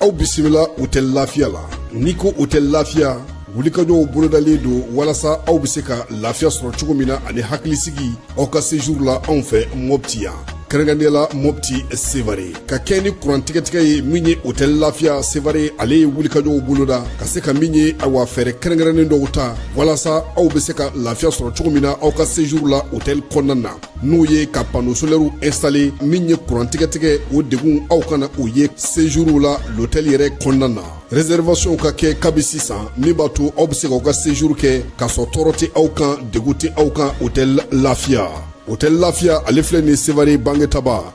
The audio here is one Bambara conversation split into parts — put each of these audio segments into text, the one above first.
aw bisimila otɛli lafiya la n'i ko otɛli lafiya wulikajɔw bolodalen don walasa aw bɛ se ka lafiya sɔrɔ cogo min na ani hakilisigi aw ka sejuru la anw fɛ mɔpti yan kɛrɛnkɛrɛnnenya la mɔpti sevare ka kɛɲɛ ni kurantigɛtigɛ ye min ye otɛli lafiya sevare ale ye wulikajɔw boloda ka se ka min ye awa fɛɛrɛ kɛrɛnkɛrɛnnen dɔw ta walasa aw bɛ se ka lafiya sɔrɔ cogo min na aw ka sejuru la otɛli kɔnɔna na n'o ye ka pano solɛriw ɛnsitale min ye kurantigɛtigɛ o degun aw kana o ye sejuruw la lotɛli yɛrɛ kɔnɔna na rezɛrivasiyɔnw ka kɛ kabi sisan min b'a to aw bɛ se k'aw ka sejuru kɛ k'a sɔrɔ tɔɔrɔ tɛ aw kan degun tɛ aw kan otɛli lafiya otɛli lafiya ale filɛ nin sevare bangetaba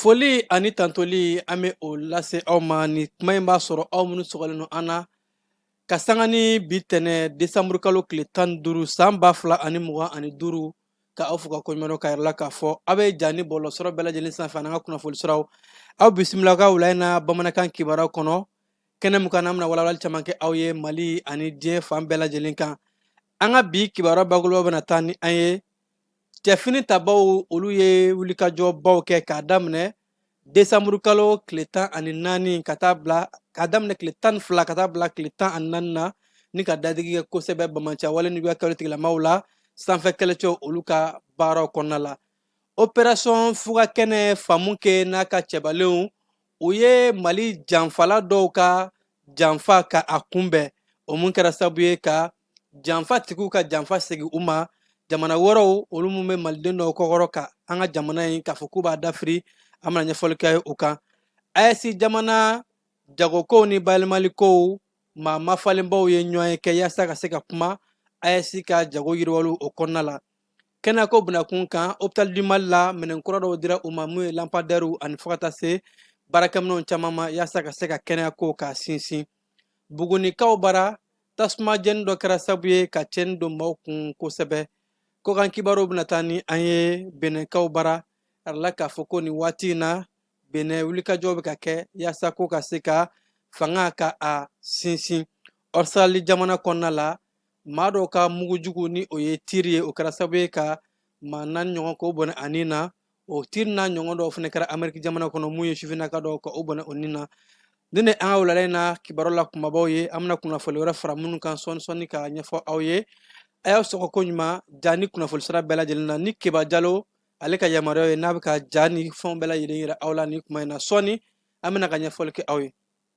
Foli ani tantoli an bɛ o lase aw ma ni kuma in b'a sɔrɔ aw minnu sɔgɔlen don an na ka sanga ni bi tɛnɛ desanburu kalo tile tan ni duuru san ba fila ani mugan ani duuru ka aw fo ka koɲuman dɔn k'a yira aw la k'a fɔ aw bɛ ja ni bɔlɔsɔrɔ bɛɛ lajɛlen sanfɛ an ka kunnafoni siraw aw bisimila an ka wula na bamanankan kibaruya kɔnɔ kɛnɛ min kan an bɛna walawalali caman kɛ aw ye mali ani diɲɛ fan bɛɛ lajɛlen kan an ka bi kibaruya bakuruba bɛna taa ni an ye cɛfini tabaw olu ye wulikajɔbaw kɛ k'a daminɛ desanburu kalo tile tan ani naani ka taa bila k'a daminɛ tile tan ni fila ka taa bila tile tan ani naani na ni ka dadigi kɛ kosɛbɛ banbaanciya wale ni juguya kɛwale tigilamaw la sanfɛ kɛlɛcɛ olu ka baaraw kɔnɔna la operasiyɔn fuga kɛnɛ famukɛ n'a ka cɛbalenw u ye mali janfala dɔw ka janfa ka a kunbɛn o mun kɛra sabu ye ka janfatigiw ka janfa segin u ma jamana wɛrɛw olu min bɛ maliden dɔw kɔkɔrɔ ka an ka jamana in k'a fɔ k'u b'a dafiri an bɛna ɲɛfɔli kɛ u kan ayɛsi jamana jagokow ni bayɛlɛmalikow maa mafalenbaw ye ɲɔgɔn ye kɛ yaasa ka se ka kuma ayɛsi ka jago yiriwaliw o kɔnɔna la kɛnɛyako binakun kan hopital du mali la minɛn kura dɔw dira u ma mun ye lanpadɛriw ani fo ka taa se baarakɛminɛn caman ma yaasa ka se ka kɛnɛya kow k'a sinsin bugunikaw bara tasuma jeni dɔ kɛra sabu ye ka cɛni don maaw kun kosɛbɛ kɔkan kibaruw bɛna taa ni an ye benɛkaw bara arala k'a fɔ ko nin waati in na benɛ wulikajɔ bɛ ka kɛ yaasa ko ka se ka fanga ka a sinsin ɔsitarali jamana kɔnɔna la maa dɔw ka mugu jugu ni o ye tiri ye o kɛra sabu ye ka maa naani ɲɔgɔn k'o bɔnɛ a nin na o tiri n'a ɲɔgɔn dɔw fana kɛra ameriki jamana kɔnɔ mun ye sifinnaka dɔw ka o bɔnɛ o nin na ni ne an ka wulala in na kibaru la kunbabaw ye an bɛna kunnafoli wɛrɛ fara minnu kan sɔɔni sɔɔni ka ɲɛfɔ aw ye a y'aw sɔgɔ ko ɲuman ja ni kunnafoli sira bɛɛ lajɛlen na ni keba jalo ale ka yamaruya ye n'a bɛ ka ja ni fɛnw bɛɛ lajɛlen yira aw la ni kuma in na sɔɔni an bɛna ka ɲɛfɔli kɛ aw ye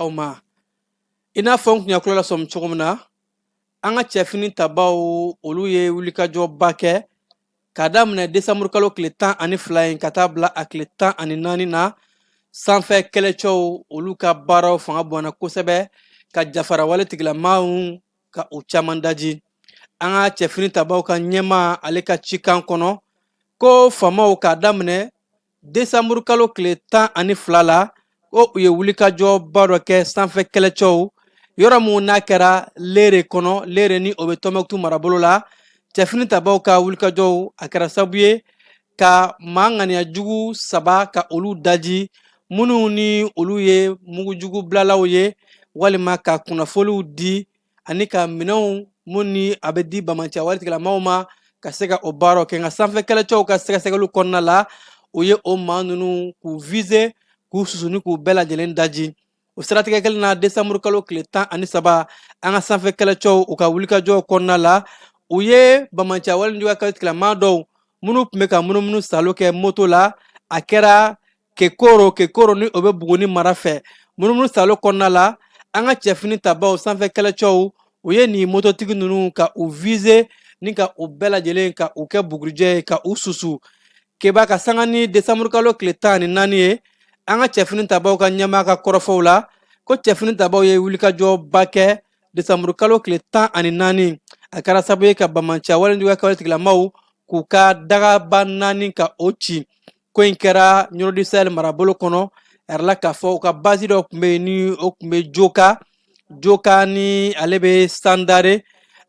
aw ma i n'a fɔ n tun y'a kulo lasɔmi cogo min na an ka cɛfini tabaw olu ye wulikajɔba kɛ k'a daminɛ desanburukalo tile tan ani fila in ka taa bila a tile tan ani naani na sanfɛ kɛlɛcɛw olu ka baaraw fanga bonyana kosɛbɛ ka jafara waletigilamaw ka u caman daji an ka cɛfini tabaw ka ɲɛmaa ale ka cikan kɔnɔ ko famaw k'a daminɛ desanburukalo tile tan ani fila la ko u ye wulikajɔba dɔ kɛ sanfɛ kɛlɛcɛw yɔrɔ min n'a kɛra lere kɔnɔ lere ni o bɛ tɔnbukutu marabolo la cɛfini tabaw ka wulikajɔw a kɛra sabu ye ka maa ŋaniya jugu saba ka olu daji minnu ni olu ye mugujugu bilalaw ye walima ka kunnafoniw di ani ka minɛnw min ni a bɛ di bamanciya waletigilamaw ma ka se ka o baaraw kɛ an ka sanfɛ kɛlɛcɛw ka sɛgɛsɛgɛliw kɔnɔna la u ye o maa ninnu k'u vize k'u susu ni k'u bɛɛ lajɛlen daji o siratigɛ kelen na desanburu kalo tile tan ani saba an ka sanfɛ kɛlɛcɛw u ka wulikajɔw kɔnɔna la u ye bamanciya walejuguya kɛlɛtigilama dɔw minnu tun bɛ ka munumunu salo kɛ moto la a kɛra kekoro kekoro ni o bɛ buguni mara fɛ munumunu salo kɔnɔna la an ka cɛfini tabaw sanfɛ kɛlɛcɛw u ye nin mototigi ninnu ka u vize ni ka u bɛɛ lajɛlen ka u kɛ bugurijɛ ye ka u susu keba ka sanga ni desanburukalo tile tan ani naani ye an ka cɛfini tabaw ka ɲɛmaa ka kɔrɔfɔw la ko cɛfini tabaw ye wulikajɔba kɛ desanburukalo tile tan ani naani a kɛra sabu ye ka bamanciya walejuguya ka waletigilamaw k'u ka dagaba naani ka o ci ko in kɛra ɲɔrɔ du sahel marabolo kɔnɔ a yirala k'a fɔ u ka basi dɔ tun bɛ yen ni o tun bɛ joka joka ni ale bɛ sandare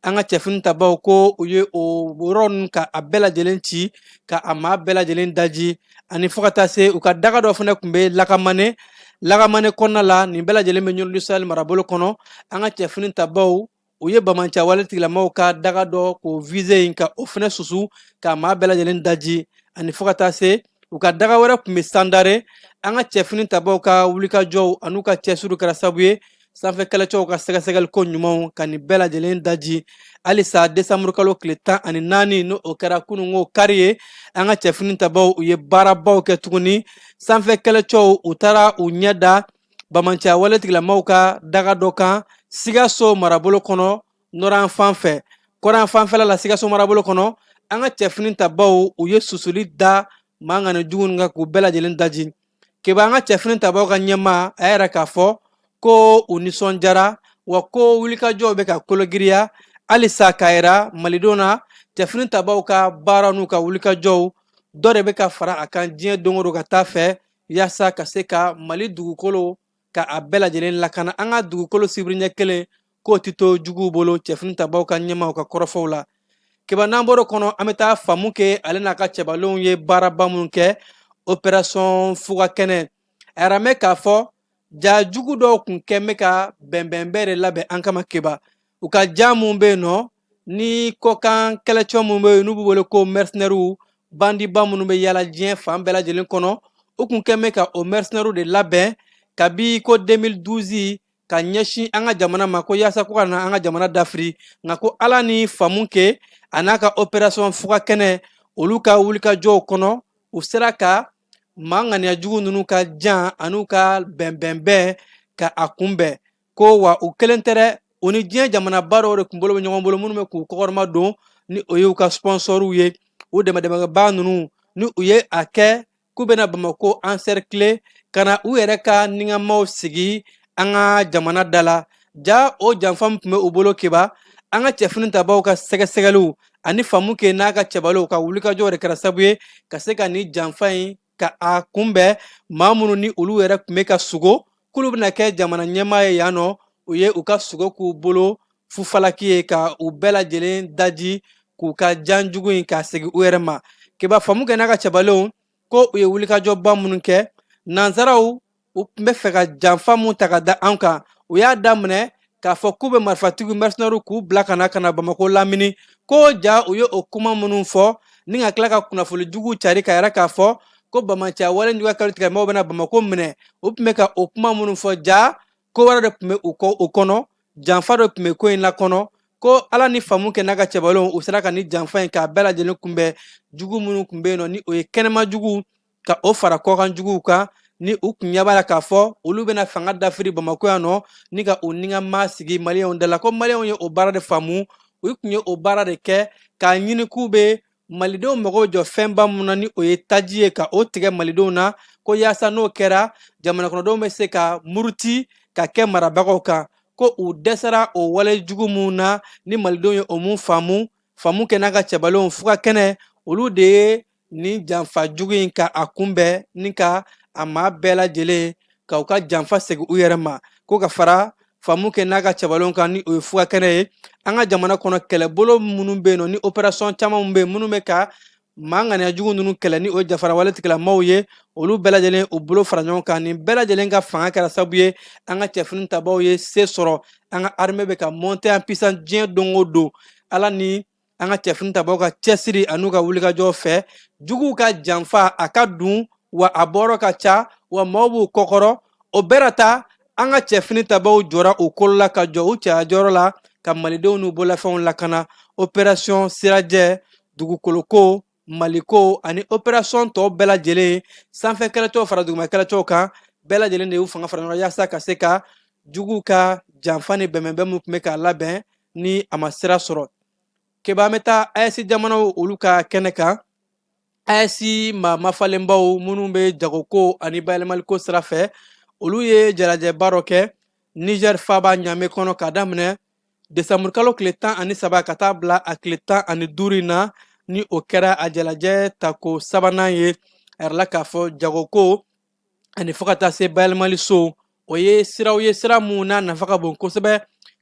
an ka cɛfini tabaw ko u ye o yɔrɔ ninnu ka a bɛɛ lajɛlen ci ka a maa bɛɛ lajɛlen daji ani fo ka taa se u ka daga dɔ fana tun bɛ lakamane lakamane kɔnɔna la nin bɛɛ lajɛlen bɛ ɲɔrɔ du sahel marabolo kɔnɔ an ka cɛfini tabaw u ye bamanciya waletigilamaw ka daga dɔ k'o vize in ka o fana susu k'a maa bɛɛ lajɛlen daji ani fo ka taa se u ka daga wɛrɛ tun bɛ sandare an ka cɛfini tabaw ka wulikajɔw an'u ka cɛsiri kɛra sabu ye sanfɛ kɛlɛcɛw ka sɛgɛsɛgɛliko ɲumanw ka nin bɛɛ lajɛlen daji halisa desanburukalo tile tan ani naani ni o kɛra kununko kari ye an ka cɛfini tabaw u ye baarabaw kɛ tuguni sanfɛ kɛlɛcɛw u taara u ɲɛ da bamanciya waletigilamaw ka daga dɔ kan sikaso marabolo kɔnɔ nɔrɔn fan fɛ kɔrɔn fanfɛla la sikaso marabolo kɔnɔ an ka cɛfini tabaw u ye susuli da maa ŋaniya jugu ninnu kan k'u bɛɛ lajɛlen daji keba an ka cɛfini tabaw ka ɲɛmaa y'a yira k'a fɔ ko u nisɔndiyara wa ko wulikajɔw bɛ ka kologiriya halisa k'a yira malidenw na cɛfini tabaw ka baara n'u ka wulikajɔw dɔ de bɛ ka fara a kan diɲɛ don o don ka taa fɛ yaasa ka se ka mali dugukolo ka a bɛɛ lajɛlen lakana an ka dugukolo sibiri ɲɛ kelen k'o tɛ to juguw bolo cɛfini tabaw ka ɲɛmaw ka kɔrɔfɔw la keba n'an bɔr'o kɔnɔ an bɛ taa famukɛ ale n'a ka cɛbalenw ye baaraba minnu kɛ operasɔn fuga kɛnɛ a yɛrɛ mɛn k'a fɔ ja jugu dɔw tun kɛn bɛ ka bɛnbɛnbɛn de labɛn an kama keba u ka jan min bɛ yen nɔ ni kɔkan kɛlɛcɛ minnu bɛ yen n'u b'u wele ko mɛrsenɛriw bandiba minnu bɛ yaala diɲɛ fan bɛɛ lajɛlen kɔnɔ u tun kɛlen bɛ ka o mɛrsenɛriw de labɛn kabi ko 2012 ka ɲɛsin an ka jamana ma ko yaasa ko ka na an ka jamana dafiri nka ko ala ni famukɛ a n'a ka operasɔn fuga kɛnɛ olu ka wulikajɔw kɔnɔ u sera ka maa ŋaniya jugu ninnu ka jan an'u ka bɛnbɛnbɛn ka a kunbɛn ko wa u kelen tɛ dɛ u ni diɲɛ jamanaba dɔw de tun bolo bɛ ɲɔgɔn bolo minnu bɛ k'u kɔkɔrɔma don ni o y'u ka sponsɔriw ye u dɛmɛdɛmɛbaa ninnu ni u ye a kɛ k'u bɛna bamakɔ ansɛrikile ka na u yɛrɛ ka niŋamaw sigi an ka jamana da la ja o janfa in tun bɛ u bolo keba an ka cɛfini tabaw ka sɛgɛsɛgɛliw ani famukɛ n'a ka cɛbaliw ka wulikajɔw de kɛra sabu ye ka se ka nin janfa in ka a kunbɛn maa minnu ni olu yɛrɛ tun bɛ ka sugo k'olu bɛna kɛ jamana ɲɛmaa ye yan nɔ u ye u ka sugo k'u bolo fufalaki ye ka u bɛɛ lajɛlen daji k'u ka jan jugu in k'a segin u yɛrɛ ma keba famukɛ n'a ka cɛbalenw ko u ye wulikajɔba minnu kɛ nansaraw u tun bɛ fɛ ka janfa min ta ka da an kan u y'a daminɛ k'a fɔ k'u bɛ marifatigi mɛrsenɛri k'u bila ka na ka na bamakɔ lamini ko ja u ye o kuma minnu fɔ ni ka tila ka kunnafoni jugu cari ka yɛrɛ k'a fɔ ko banbaanciya wale juguya kɛlɛtigilamaw bɛna bamakɔ minɛ u tun bɛ ka o kuma minnu fɔ ja ko wɛrɛ de tun bɛ u kɔ u kɔnɔ janfa dɔ tun bɛ ko in la kɔnɔ ko ala ni famukɛ n'a ka cɛbalenw u sera ka nin janfa in k'a bɛɛ lajɛlen kunbɛn jugu minnu tun bɛ yen nɔ ni o ye kɛnɛma jugu ka o fara kɔkan juguw kan ni u tun ɲɛ b'a la k'a fɔ olu bɛna fanga dafiri bamakɔ yan nɔ ni ka u niŋama sigi maliyɛnw da la ko maliyɛnw ye o baara de faamu u tun ye o baara de kɛ k'a ɲini k'u bɛ malidenw mago jɔ fɛnba mun na ni o ye taji ye ka o tigɛ malidenw na ko yaasa n'o kɛra jamanakɔnɔdenw bɛ se ka muruti ka kɛ marabagaw kan ko u dɛsɛra o wale jugu mun na ni malidenw ye o mun faamu famukɛ n'a ka cɛbalenw fuga kɛnɛ olu de ye nin janfa jugu in ka a kunbɛn ni ka a maa bɛɛ lajɛlen ka u ka janfa segin u yɛrɛ ma ko ka fara famukɛ n'a ka cɛbalenw kan ni o ye fuga kɛnɛ ye an ka jamana kɔnɔ kɛlɛbolo minnu bɛ yen nɔ ni operasɔn caman bɛ yen minnu bɛ ka maa ŋaniya jugu ninnu kɛlɛ ni o ye jafara wale tigilamaw ye olu bɛɛ lajɛlen u bolo fara ɲɔgɔn kan nin bɛɛ lajɛlen ka fanga kɛra sababu ye an ka cɛfini tabaw ye se sɔrɔ an ka armée bɛ ka monter en puissance diɲɛ don o don ala ni an ka cɛfini tabaw ka cɛsiri an'u ka wulikajɔ fɛ juguw ka janfa a ka dun wa a bɔrɔ ka ca wa maaw b'u kɔkɔrɔ o bɛɛ ta an ka cɛfini tabaw jɔra u kolo la ka jɔ u cɛya jɔyɔrɔ la ka malidenw n'u bolafɛnw lakana operasiyɔn sirajɛ dugukoloko Maliko ani operasiyɔn tɔw bɛɛ lajɛlen sanfɛ kɛlɛcɛw fara duguma kɛlɛcɛw kan bɛɛ lajɛlen de y'u fanga fara ɲɔgɔn yaasa ka se ka jugu ka janfa ni bɛnbɛn minnu tun bɛ k'a labɛn ni a ma sira sɔrɔ keba an bɛ taa AES jamanaw olu ka kɛnɛ kan AES maa mafalenbaw minnu bɛ jagoko ani bayɛlɛmaliko sira fɛ olu ye jalajɛba dɔ kɛ nizɛri faaba ɲamɛ kɔnɔ k'a daminɛ desanburukalo tile tan ani saba ka taa bila a tile tan ani duuru in na ni o kɛra a jalajɛ tako sabanan ye a yirala k'a fɔ jagoko ani fo ka taa se bayɛlɛmali sow o ye siraw ye sira minnu n'a nafa ka bon kosɛbɛ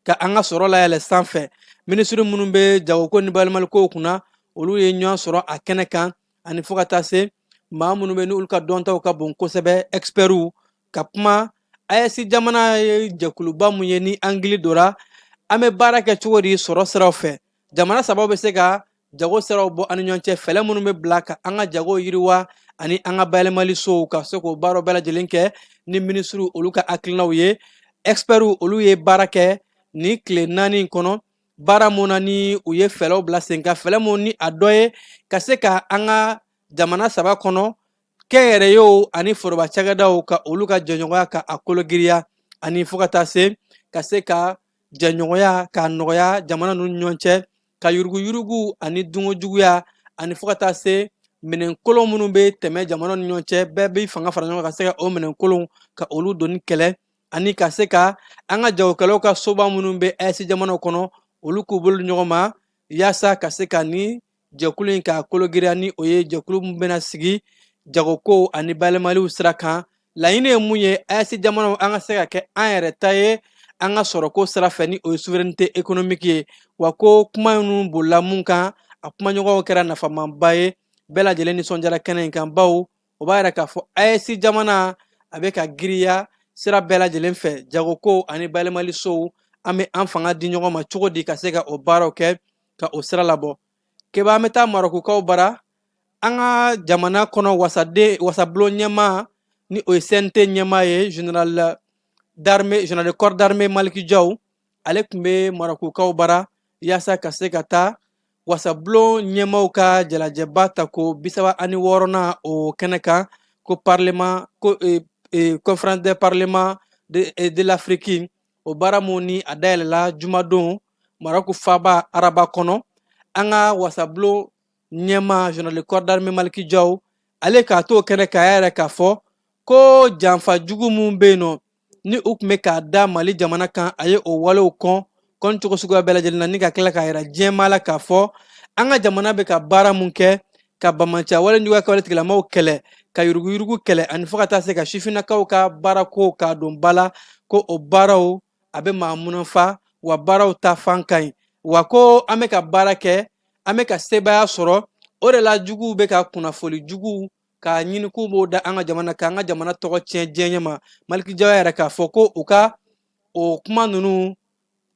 ka an ka sɔrɔ layɛlɛ sanfɛ minisiri minnu bɛ jagoko ni bayɛlɛmalikow kunna olu ye ɲɔgɔn sɔrɔ a kɛnɛ kan ani fo ka taa se maa minnu bɛ n'olu ka dɔntaw ka bon kosɛbɛ ɛkisipɛriw ka kuma AES jamana ye jɛkuluba mun ye ni an hakili dɔra an bɛ baara kɛ cogo di sɔrɔ siraw fɛ jamana sabaw bɛ se ka jago siraw bɔ an ni ɲɔgɔn cɛ fɛɛrɛ minnu bɛ bila ka an ka jago yiriwa ani an ka bayɛlɛmali sow ka se k'o baaraw bɛɛ lajɛlen kɛ ni minisiriw olu ka hakilinaw ye ɛkisipɛriw olu ye baara kɛ nin tile naani in kɔnɔ baara mun na ni u ye fɛɛrɛw bila sen kan fɛɛrɛ mun ni a dɔ ye ka se ka an ka jamana saba kɔnɔ kɛnyɛrɛyew ani foroba cakɛdaw ka olu ka jɛɲɔgɔnya ka a kologiriya ani fo ka taa se ka se ka jɛɲɔgɔnya k'a nɔgɔya jamana ninnu ɲɔgɔn cɛ ka yuruguyurugu ani dunkojuguya ani fo ka taa se minɛn kolon minnu bɛ tɛmɛ jamana ni ɲɔgɔn cɛ bɛɛ bɛ fanga fara ɲɔgɔn ka se ka o minɛn kolonw ka olu donni kɛlɛ ani ka se ka an ka jagokɛlaw ka soba minnu bɛ AES jamanaw kɔnɔ olu k'u bolo ɲɔgɔn ma yaasa ka se ka nin jɛkulu in k'a kologiriya ni o ye jɛkulu min bɛna sigi jagokow ani bayɛlɛmaliw sira kan laɲini ye mun ye AES jamanaw an ka se ka kɛ an yɛrɛ ta ye an ka sɔrɔko sira fɛ ni o ye souveraineté économique ye wa ko kuma minnu bolila mun kan a kumaɲɔgɔnw kɛra nafamaba ye bɛɛ lajɛlen nisɔndiyara kɛnɛ in kan bawo o b'a yira k'a fɔ AES jamana a bɛ ka giriya sira bɛɛ lajɛlen fɛ jagokow ani bayɛlɛmalisow an bɛ an fanga di ɲɔgɔn ma cogo di ka se ka o baaraw kɛ ka o sira labɔ keba an bɛ taa marokukaw bara an ka jamana kɔnɔ wasaden wasabulon ɲɛmaa ni o ye CNT ɲɛmaa ye général d'armée général de corps d'armée Maliki Jaw ale tun bɛ marokukaw bara yaasa ka se ka taa wasabulon ɲɛmaaw ka jalajɛba tako bisaba ani wɔɔrɔnan o kɛnɛ kan ko parlement ko eh, eh, conférence de parlement de, eh, de l'afrique o baara mun ni a dayɛlɛla jumadon maroku faaba araba kɔnɔ an ka wasabulon ɲɛmaa général de corps d'armée maliki jaw ale k'a t'o kɛnɛ kan y'a yira k'a fɔ ko janfa jugu mun bɛ yen nɔ ni u tun bɛ k'a da mali jamana kan a ye o walew kɔn kɔncogo suguya bɛɛ lajɛlen na ni ka tila k'a jira diɲɛmaa la k'a fɔ an ka jamana bɛ ka baara mun kɛ ka banbaanciya walejuguya ka wale tigilamaaw kɛlɛ ka yuruguyurugu kɛlɛ ani fo ka taa se ka sifinnakaw ka baarako k'a don ba la ko o baaraw a bɛ maa munafa wa baaraw taafan ka ɲi wa ko an bɛ ka baara kɛ an bɛ ka sebaaya sɔrɔ o de la juguw bɛ ka kunnafoli juguw k'a ɲini k'u b'o da an ka jamana k'an ka jamana tɔgɔ tiɲɛ diɲɛ ɲɛ ma maliki jaw y'a yira k'a fɔ ko u ka o kuma ninnu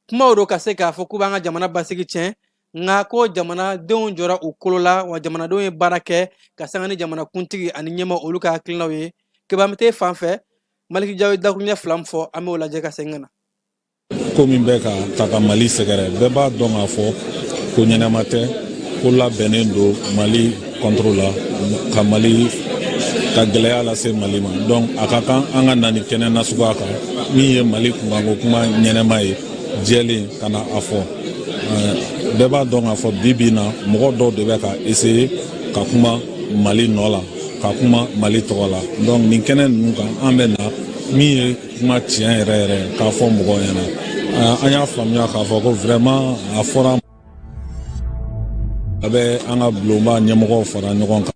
kumaw don ka se k'a fɔ k'u b'an ka jamana basigi tiɲɛ nka ko jamanadenw jɔra u kolo la wa jamanadenw ye baara kɛ ka sanga ni jamanakuntigi ani ɲɛmaa olu ka hakilinaw ye keba an bɛ taa yen fan fɛ maliki jaw ye dakuruɲɛ fila min fɔ an b'o lajɛ ka segin ka na ko min bɛ ka taa ka mali sɛgɛrɛ bɛɛ b'a dɔn k'a fɔ ko ɲɛnama tɛ ko labɛnnen don mali contre la ka mali ka gɛlɛya lase mali ma donc a ka kan an ka na nin kɛnɛ nasuguya kan min ye mali kunkanko kuma ɲɛnama ye jɛlen ka na a fɔ bɛɛ b'a dɔn k'a fɔ bi bi na mɔgɔ dɔw de bɛ ka essayer ka kuma mali nɔ la ka kuma mali tɔgɔ la donc nin kɛnɛ ninnu kan an bɛ na min ye kuma tiɲɛ yɛrɛ yɛrɛ k'a fɔ mɔgɔw ɲɛna an y'a faamuya k'a fɔ ko vraiment a fɔra a bɛ an ka bulonba ɲɛmɔgɔw fara ɲɔgɔn kan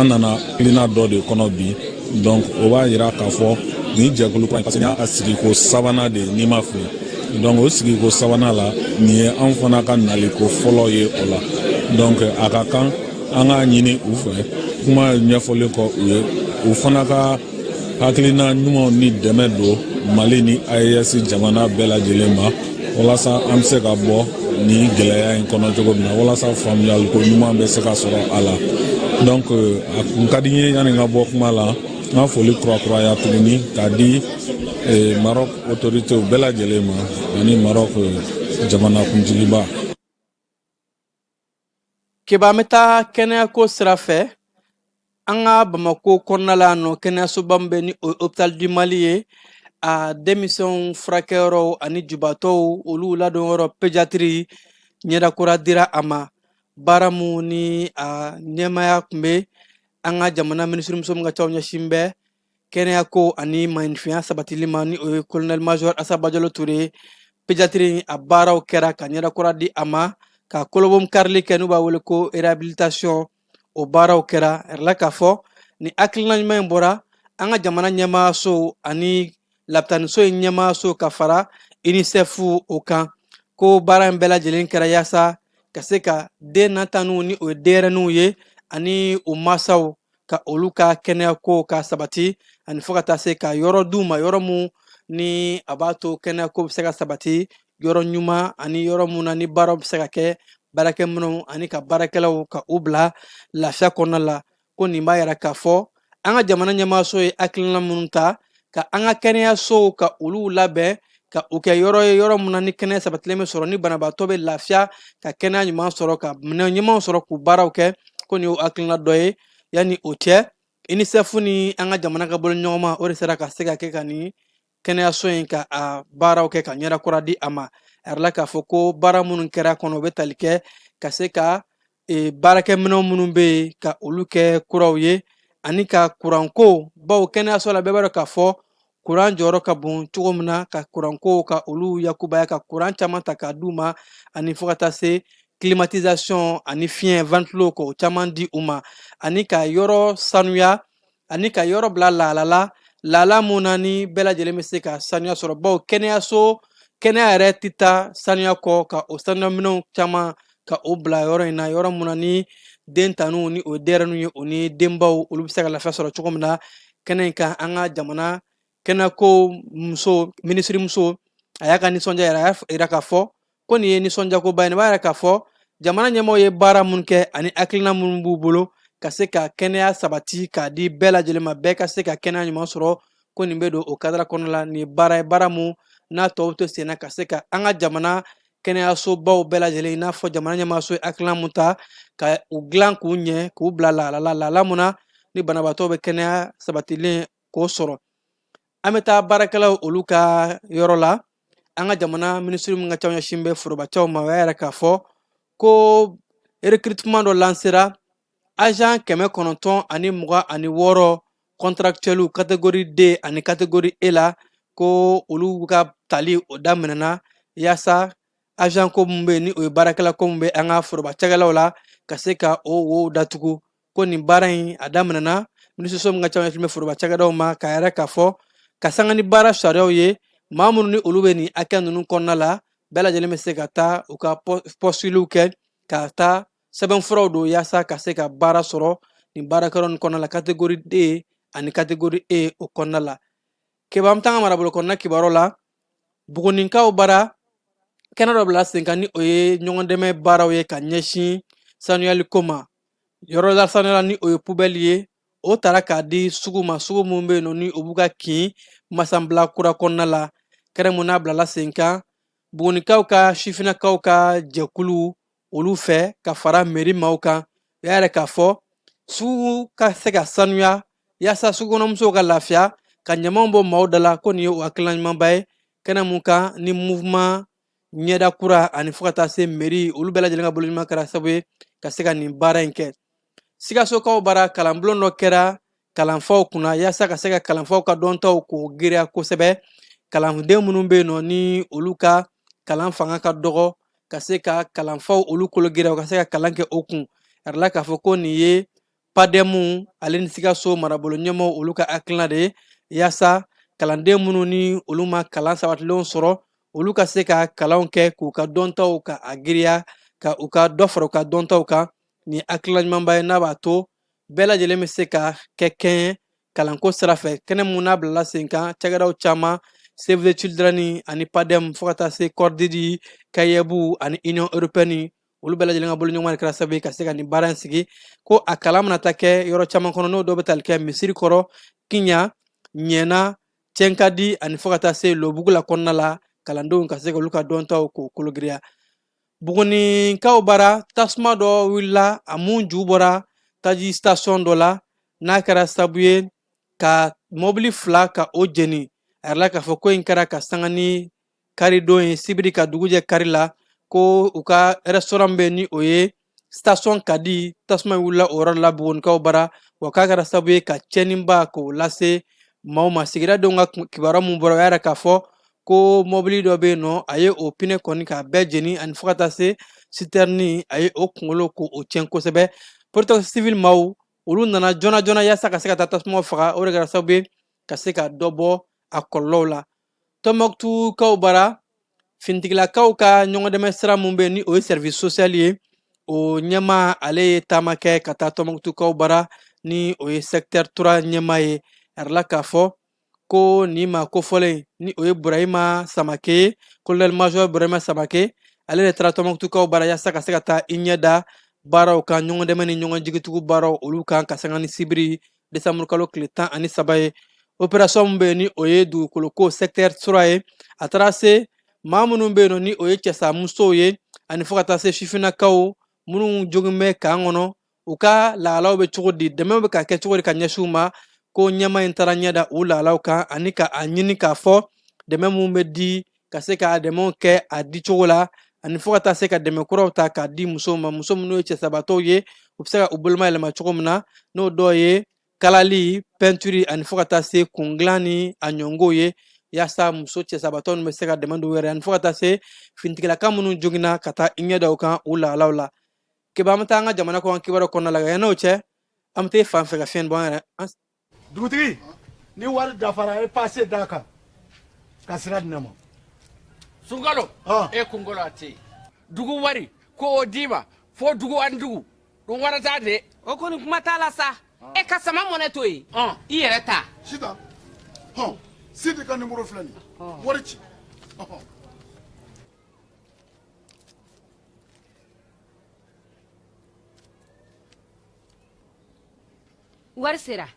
an nana hakilina dɔ de kɔnɔ bi donc o b'a yira k'a fɔ nin jɛkulu kura parce que a sigiko sabanan de ni n ma fili donc o sigiko sabanan la nin ye an fana ka naliko fɔlɔ ye o la donc a ka kan an k'a ɲini u fɛ kuma ɲɛfɔlen kɔ u ye u fana ka hakilina ɲumanw ni dɛmɛ don mali ni aes jamana bɛɛ lajɛlen ma walasa an bɛ se ka bɔ nin gɛlɛya in kɔnɔ cogo min na walasa faamuyaliko ɲuman bɛ se ka sɔrɔ a la donc euh, a kun ka di n ye yanni n ka bɔ kuma la n ka foli kurakuraya tuguni k'a di euh, marɔk otoritew bɛɛ lajɛlen ma ani marɔk euh, jamanakuntigiba Keba an bɛ taa kɛnɛyako sira fɛ an ka bamakɔ kɔnɔna la yan nɔ kɛnɛyasoba min bɛ ni o ye hôpital du mali ye a denmisɛnw furakɛyɔrɔ ani jubatɔw olu ladonyɔrɔ pédiatrie ɲɛdakura dira a ma baara mun ni a ɲɛmaaya tun bɛ an ka jamana minisirimuso mun ka ciw ɲɛsin bɛ kɛnɛya ko ani maaninfinya sabatili ma ni o ye colonel major Asa Bajalo Ture pédiatrie a baaraw kɛra ka ɲɛda kura di a ma ka kolobonkarili kɛ n'u b'a wele ko réhabilitation o baaraw kɛra la k'a fɔ nin hakilina ɲuman in bɔra an ka jamana ɲɛmaaso ani lapitaniso in ɲɛmaaso ka fara UNICEF o kan ko baara in bɛɛ lajɛlen kɛra yaasa ka se ka den na tan ni o ye denyɛrɛninw ye ani u masaw ka olu ka kɛnɛya ko ka sabati ani fo ka taa se ka yɔrɔ d'u ma yɔrɔ mun ni a b'a to kɛnɛya ko bɛ se ka sabati yɔrɔ ɲuman ani yɔrɔ mun na ni baaraw bɛ se ka kɛ baarakɛminɛnw ani ka baarakɛlaw ka u bila lafiya kɔnɔna la ko nin b'a yira k'a fɔ an ka jamana ɲɛmaaso ye hakilina minnu ta ka an ka kɛnɛyasow ka olu labɛn ka u kɛ yɔrɔ ye yɔrɔ min na ni kɛnɛya sabatilen bɛ sɔrɔ ni banabaatɔ bɛ lafiya ka kɛnɛya ɲuman sɔrɔ ka minɛn ɲumanw sɔrɔ k'u baaraw kɛ ko nin y'o hakilina dɔ ye yanni o cɛ UNICEF ni an ka jamana ka bolo ɲɔgɔnma o de sera ka se ka kɛ ka nin kɛnɛyaso in ka a baaraw kɛ ka ɲɛda kura di a ma a yirala k'a fɔ ko baara minnu kɛra kɔnɔ u bɛ tali kɛ ka se ka e, baarakɛminɛw minnu bɛ yen ka olu kɛ kuraw ye ani ka kuranko bawo kɛnɛyaso la bɛɛ b'a dɔn k'a fɔ kuran jɔyɔrɔ ka bon cogo min na ka kuranko ka olu yakubaya ka kuran caman ta k'a d'u ma ani fo ka taa se climatisation ani fiɲɛ ventilo k'o caman di u ma ani ka yɔrɔ sanuya ani ka yɔrɔ bila lahala la lahala mun na ni bɛɛ lajɛlen bɛ se ka sanuya sɔrɔ bawo kɛnɛyaso kɛnɛya yɛrɛ tɛ taa sanuya kɔ ka o sanuyaminɛw caman ka o bila yɔrɔ in na yɔrɔ mun na ni den tanniw ni o denyɛrɛninw ye o ni denbaw olu bɛ se ka lafiya sɔrɔ cogo min na kɛnɛ in kan an ka jamana kɛnɛyako muso minisirimuso a y'a ka nisɔndiya yira a y'a jira k'a fɔ ko nin ye nisɔndiyakoba ye nin b'a yira k'a fɔ jamana ɲɛmɔgɔw ye baara minnu kɛ ani hakilina minnu b'u bolo ka se ka kɛnɛya sabati k'a di bɛɛ lajɛlen ma bɛɛ ka se ka kɛnɛya ɲuman sɔrɔ ko nin bɛ don o kadara kɔnɔna la nin ye baara ye baara mun n'a tɔw to senna ka se ka an ka jamana kɛnɛyasobaw bɛɛ lajɛlen i n'a fɔ jamana ɲɛmaaso ye hakilina mun ta ka u dilan k'u ɲɛ k'u bila lahala la lahala mun na ni banabaatɔ bɛ kɛnɛya sabatilen k'o sɔrɔ an bɛ taa baarakɛlaw olu ka yɔrɔ la an ka jamana minisiri min ka ca ɲɛsin bɛ forobacɛw ma o y'a yira k'a fɔ ko recrutement dɔ lansera agent kɛmɛ kɔnɔntɔn ani mugan ani wɔɔrɔ contractuels catégorie D ani catégorie E la ko olu ka tali o daminɛna yaasa agent ko min bɛ yen ni o ye baarakɛla ko min bɛ an ka forobacɛkɛlaw la ka se ka o wo datugu ko nin baara in a daminɛna minisiriso min ka ca ɲɛsin bɛ foroba cakɛdaw ma k'a yira k'a fɔ ka sanga ni baara sariyaw ye maa minnu ni olu bɛ nin hakɛ ninnu kɔnɔna la bɛɛ lajɛlen bɛ se ka taa u ka pɔsitiliw kɛ ka taa sɛbɛnfuraw don yaasa ka se ka baara sɔrɔ nin baarakɛyɔrɔ ninnu kɔnɔna la kategori d ani kategori e o kɔnɔna la keba an bɛ taa an ka marabolo kɔnɔna kibaruyaw la buguninkaw bara kɛnɛ dɔ bila senkan ni o ye ɲɔgɔndɛmɛ baaraw ye ka ɲɛsin sanuyali ko ma Yɔrɔ lasanuyalan ni o ye pubɛli ye o taara k'a di sugu ma sugu min bɛ yen nɔ ni o b'u ka kin masabila kura kɔnɔna la kɛnɛ min n'a bilala senkan bugunikaw ka sifinnakaw ka jɛkulu olu fɛ ka fara meri maaw kan u y'a yira k'a fɔ sugu ka se ka sanuya yaasa sugukɔnɔmusow ka lafiya ka ɲamanw bɔ maaw da la ko nin ye o hakilina ɲumanba ye kɛnɛ min kan ni mouvement ɲɛda kura ani fo ka taa se meri olu bɛɛ lajɛlen ka bolodiɲɔgɔnma kɛra sabu ye ka se ka nin baara in kɛ sikasokaw bara kalanbulon dɔ kɛra kalanfaw kunna yaasa ka se ka kalanfaw ka dɔntaw k'o giriya kosɛbɛ kalanden minnu bɛ yen nɔ ni olu ka kalan fanga ka dɔgɔ ka se ka kalanfaw olu kolo giriya u ka se ka kalan kɛ o kun yirala k'a fɔ ko nin ye PADEM ale ni sikaso marabolo ɲɛmɔgɔw olu ka hakilina de ye yaasa kalanden minnu ni olu ma kalan sabatilenw sɔrɔ olu ka se ka kalanw kɛ k'u ka dɔntaw ka a giriya ka u ka dɔ fara u ka dɔntaw kan ni hakilina ɲumanba ye n'a b'a to bɛɛ lajɛlen bɛ se ka kɛ kelen ye kalanko sira fɛ kɛnɛ min n'a bilala sen kan cakɛdaw caman Save the Children ani PADEM fo ka taa se Cordaid CAEB ani Union Européenne olu bɛɛ lajɛlen ka bolodiɲɔgɔnma de kɛra sababu ye ka se ka nin baara in sigi ko a kalan mana taa kɛ yɔrɔ caman kɔnɔ n'o dɔw bɛ tali kɛ misirikɔrɔ kiɲan ɲɛna cɛnkadi ani fo ka taa se lobugula kɔnɔna la kalandenw ka se ka olu ka dɔntaw k'o kologiriya buguninkaw bara tasuma dɔ wulila a mun ju bɔra taji station dɔ la n'a kɛra sababu ye ka mɔbili fila ka o jeni a yirala k'a fɔ ko in kɛra ka sanga ni karidon ye sibiri ka dugujɛ kari la ko u ka restaurant bɛ ni o ye station kadi tasuma wulila o yɔrɔ la bugunikaw bara wa k'a kɛra sababu ye ka cɛnniba k'o lase maaw ma sigidadenw ka kibaruya mun bɔra o y'a yira k'a fɔ ko mɔbili dɔ bɛ yen nɔ a ye o pinɛ kɔni k'a bɛɛ jeni ani fo ka taa se sitɛrini a ye o kunkolo k'o tiɲɛ kosɛbɛ protection civile maaw olu nana joona joona yaasa ka se ka taa tasuma faga o de kɛra sababu ye ka se ka dɔ bɔ a kɔlɔlɔw la tɔnmɔkutukaw bara finitigilakaw ka ɲɔgɔndɛmɛ sira min bɛ ni o ye service social ye o ɲɛmaa ale ye taama kɛ ka taa tɔnmɔkutukaw bara ni o ye secteur trois ɲɛmaa ye a yirala k'a fɔ ko nin maa kofɔlen ni o ye burahima samake ye colonel major burahima samake ale de taara tɔnmɔkutukaw bara yaasa ka se ka taa i ɲɛ da baaraw kan ɲɔgɔndɛmɛ ni ɲɔgɔn jigitugu baaraw olu kan ka sanga ni sibiri desanburu kalo tile tan ani saba ye operasɔn min bɛ yen ni o ye dugukoloko sɛkitɛri trois ye a taara se maa minnu bɛ yen nɔ ni o ye cɛsa musow ye ani fo ka taa se sifinnakaw minnu joginnen bɛ kan kɔnɔ u ka lahalaw bɛ cogo di dɛmɛ bɛ ka kɛ cogo di ka ɲɛsin u ma ko ɲɛmaa in taara ɲɛ da u lahalaw kan ani ka a ɲini k'a fɔ dɛmɛ minnu bɛ di ka se ka dɛmɛw kɛ a di cogo la ani fo ka taa se ka dɛmɛ kuraw ta k'a di musow ma muso minnu ye cɛsabatɔw ye u bɛ se ka u boloma yɛlɛma cogo min na n'o dɔ ye kalali pɛntiri ani fo ka taa se kundilan ni a ɲɔngow ye yaasa muso cɛsabatɔ ninnu bɛ se ka dɛmɛ don u yɛrɛ ani fo ka taa se finitigilaka minnu joginna ka taa i ɲɛ da u kan u lahalaw la keba an bɛ taa an ka jamana kɔnɔ kibaruyaw kɔnɔna la yann'o cɛ an bɛ taa fan fɛ ka fiɲɛ bɔ an yɛrɛ dugutigi ni wari dafara e pase d'a kan ka sira di ne ma sunkalo e kunkolo a tɛ yen dugu wari ko o d'i ma fo dugu ani dugu dun wari t'a de o kɔni kuma t'a la sa e ka sama mɔnɛ to yen i yɛrɛ ta sita hɔn sidi ka nimoro filɛ nin wari ci wari sera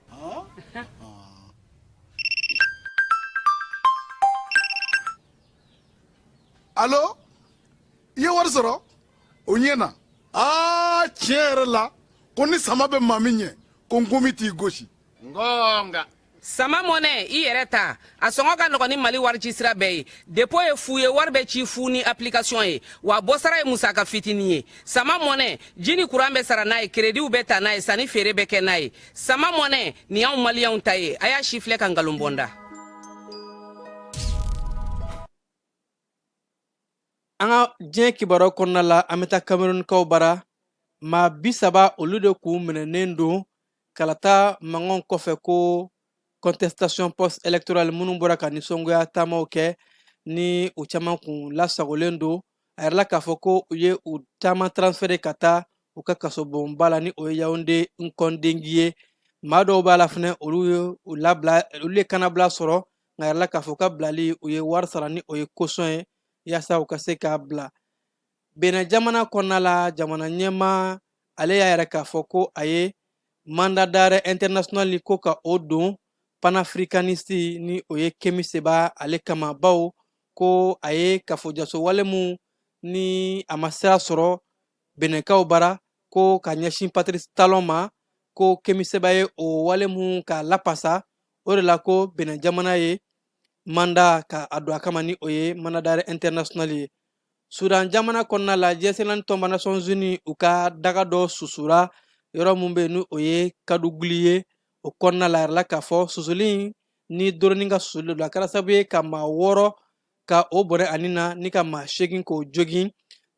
alo i ye wari sɔrɔ o ɲɛna aa tiɲɛ yɛrɛ la ko ni sama bɛ maa min ɲɛ ko nkomi t'i gosi nka sama mɔnɛ i yɛrɛ ta a sɔngɔ ka nɔgɔn ni mali warici sira bɛɛ ye depo ye fu ye wari bɛ ci fu ni apilikasiyɔn ye wa bɔsara ye musaka fitinin ye sama mɔnɛ ji ni kuran bɛ sara n'a ye kerediw bɛ ta n'a ye sanni feere bɛ kɛ n'a ye sama mɔnɛ nin y'anw maliyɛnw ta ye a y'a sifilɛ ka nkalon bɔ n da An ka diɲɛ kibaruyaw kɔnɔna la an bɛ taa kamerunikaw bara maa bi saba olu de k'u minɛnen don kalata mankanw kɔfɛ ko contestation post électorale minnu bɔra ka nisɔngoya taamaw kɛ ni u caman kun lasagolen don a yirala k'a fɔ ko u ye u caman transféré ka taa u ka kasobonba la ni o ye yawunde nkɔndengi ye maa dɔw b'a la fɛnɛ olu ye u labila olu ye kanabila sɔrɔ nka yirala k'a fɔ k'a bilali u ye wari sara ni o ye caution ye yaasa u ka se k'a bila benɛ jamana kɔnɔna la jamana ɲɛmaa ale y'a yira k'a fɔ ko a ye mandat d'arrêt international ni ko ka o don panafricaniste ni o ye kemi seba ale kama baw ko a ye kafojaso wale mu ni a ma sira sɔrɔ benɛkaw bara ko ka ɲɛsin patrice talon ma ko kemi seba ye o wale mu k'a lapasa o de la ko benɛ jamana ye mandat ka a don a kama ni o ye mandat d'arrêt international ye sudan jamana kɔnɔna la diɲɛ seleke naani tɔnba nations unies u ka daga dɔ susura yɔrɔ min bɛ ni o ye kaduguli ye o kɔnɔna la yirala k'a fɔ susuli ni dɔrɔni ka susuli don a kɛra sababu ye ka maa wɔɔrɔ ka o bɔnɛ a ni na ni ka maa seegin k'o jogin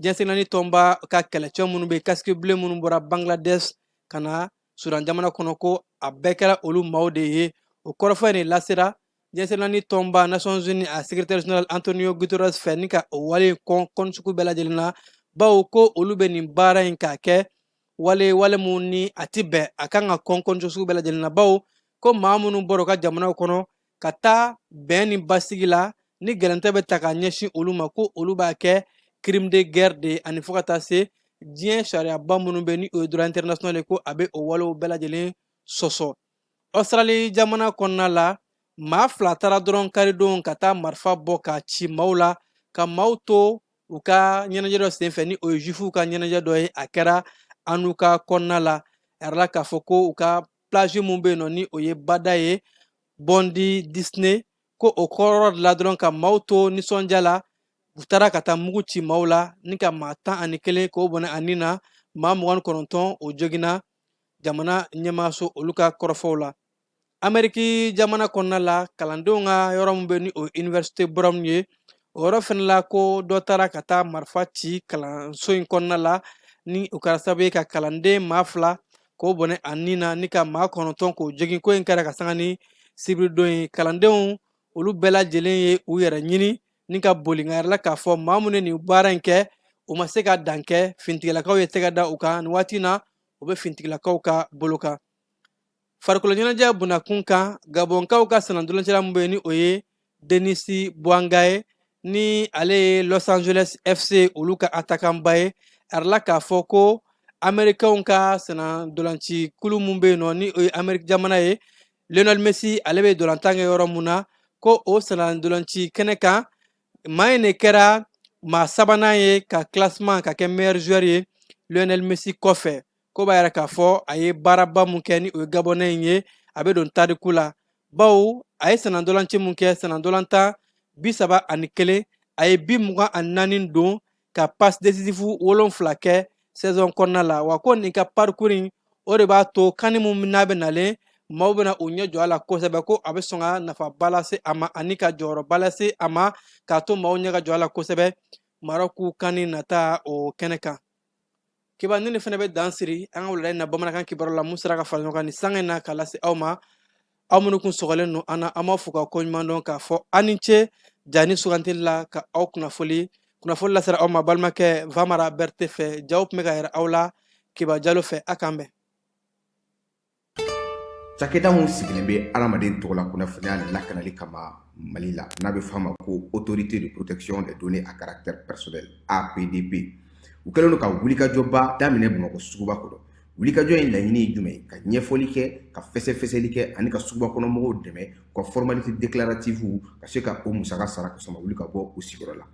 diɲɛ seleke naani tɔnba ka kɛlɛcɛ minnu bɛ casque bleu minnu bɔra bangladesh ka na sudan jamana kɔnɔ ko a bɛɛ kɛra olu maaw de ye o kɔrɔfɔ in de lasera diɲɛ seleke naani tɔnba nations unies a secrétaire général antonio guterres fɛ ni ka o wale kɔn kɔn sugu bɛɛ lajɛlen na bawo ko olu bɛ nin baara in k'a kɛ wale wale min ni a ti bɛn a kan ka kɔn kɔn sugu bɛɛ lajɛlen na bawo ko maa minnu bɔra u ka jamanaw kɔnɔ ka taa bɛn ni basigi la ni gɛlɛntɛ bɛ ta ka ɲɛsin olu ma ko olu b'a kɛ crime de guerre de ye ani fo ka taa se diɲɛ sariyaba minnu bɛ ni o ye droit international ye ko a bɛ o walew bɛɛ lajɛlen sɔsɔ ositrali jamana kɔnɔna la maa fila taara dɔrɔn karidon ka taa marifa bɔ ka ci maaw la ka maaw to u ka ɲɛnajɛ dɔ senfɛ ni o ye juwifuw ka ɲɛnajɛ dɔ ye a kɛra hanuka kɔnɔna la a yirala k'a fɔ ko u ka plage min bɛ yen nɔ ni o ye bada ye bondi disney ko o kɔrɔ de la dɔrɔn ka maaw to nisɔndiya la u taara ka taa mugu ci maaw la ni ka maa tan ani kelen k'o bɔnɛ a ni na maa mugan kɔnɔntɔn o joginna jamana ɲɛmaaso olu ka kɔrɔfɔw la ameriki jamana kɔnɔna la kalandenw ka yɔrɔ min bɛ ni o universite brown ye o yɔrɔ fɛnɛ la ko dɔ taara ka taa marifa ci kalanso in kɔnɔna la ni o kɛra sababu ye ka kalanden maa fila k'o bɔnɛ a ni na ni ka maa kɔnɔntɔn k'o jogin ko in kɛra ka sanga ni sibiridon ye kalandenw olu bɛɛ lajɛlen ye u yɛrɛ ɲini ni ka boli nka yirala k'a fɔ maa minnu ye nin baara in kɛ u ma se ka dan kɛ finitigilakaw ye tɛgɛ da u kan nin waati na u bɛ finitigilakaw ka bolo kan farikolo ɲɛnajɛ bunda kun kan gabɔnkaw ka senna ntolancila min bɛ yen ni o ye Denis Bouanga ye ni ale ye Los Angeles FC olu ka attaquant ba ye a jirala k'a fɔ ko Amerikɛnw ka senna ntolanci kulu min bɛ yen nɔ ni o ye Ameriki jamana ye Lionel Messi ale bɛ ntolantan kɛ yɔrɔ min na ko o senna ntolanci kɛnɛ kan maa in de kɛra maa sabanan ye ka classement ka kɛ meilleur joueur ye Lionel Messi kɔfɛ. ko b'a yira k'a fɔ a ye baaraba min kɛ ni o ye gabɔnɛ in ye a bɛ don tariku la bawo a ye sennantolaci min kɛ sennantolatan bi saba ani kelen a ye bi mugan ani naani don ka passe décisif wolonfila kɛ saison kɔnɔna la wa ko nin ka parcours in o de b'a to kani min n'a bɛ nalen maaw bɛna u ɲɛ jɔ a la kosɛbɛ ko a bɛ sɔn ka nafaba lase a ma ani ka jɔyɔrɔba lase a ma k'a to maaw ɲɛ ka jɔ a la kosɛbɛ marɔku kani nata o kɛnɛ kan kibaru nin fana bɛ dan siri an ka wulada in na bamanankan kibaru la min sera ka fara ɲɔgɔn kan nin sanga in na k'a lase aw ma aw minnu kun sɔgɔlen don an na an b'aw fo ka ko ɲuman dɔn k'a fɔ aw ni ce ja ni sugandili la ka aw kunnafoli kunnafoli lasera aw ma balimakɛ vamara berete fɛ jaw tun bɛ ka yira aw la kiba jalo fɛ a k'an bɛn Cakɛda min sigilen bɛ adamaden tɔgɔ la kunnafoniya lakanali kama Mali la n'a bɛ f'a ma ko autorité de protection des données à caractère personnel, APDP, u kɛlen don ka wulikajɔba daminɛ Bamakɔ suguba kɔnɔ. Wulikajɔ in laɲini ye jumɛn ye? Ka ɲɛfɔli kɛ, ka fɛsɛfɛsɛli kɛ ani ka suguba kɔnɔ mɔgɔw dɛmɛ u ka formalité déclarative ka se ka o musaka sara k'a sɔrɔ u ma wuli ka bɔ u sigiyɔrɔ la.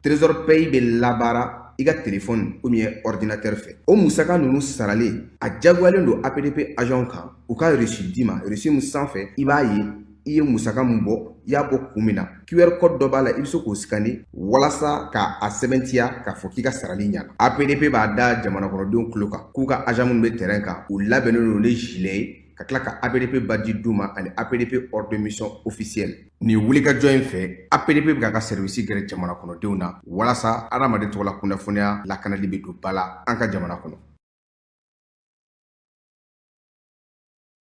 trésor pay bɛ labaara i ka telefɔni ou bien ɔridinatɛri fɛ o musaka ninnu saralen a jagoyalen don apdp agent kan u ka resi d'i ma resi min sanfɛ i b'a ye i ye musaka min bɔ i y'a bɔ kun min na qr code dɔ b'a la i bɛ se k'o sikani walasa ka a sɛbɛntiya k'a fɔ k'i ka sarali ɲana apdp b'a da jamanakɔnɔdenw tulo kan k'u ka agent minnu bɛ terrain kan u labɛnnen don ni gilet ye ka tila ka APDP badge d'u ma ani APDP ordre de mission officiel nin wulikajɔ in fɛ APDP bɛ k'a ka sɛriwisi gɛrɛ jamana kɔnɔdenw na walasa adamaden tɔgɔla kunnafoniya lakanali bɛ don ba la an ka jamana kɔnɔ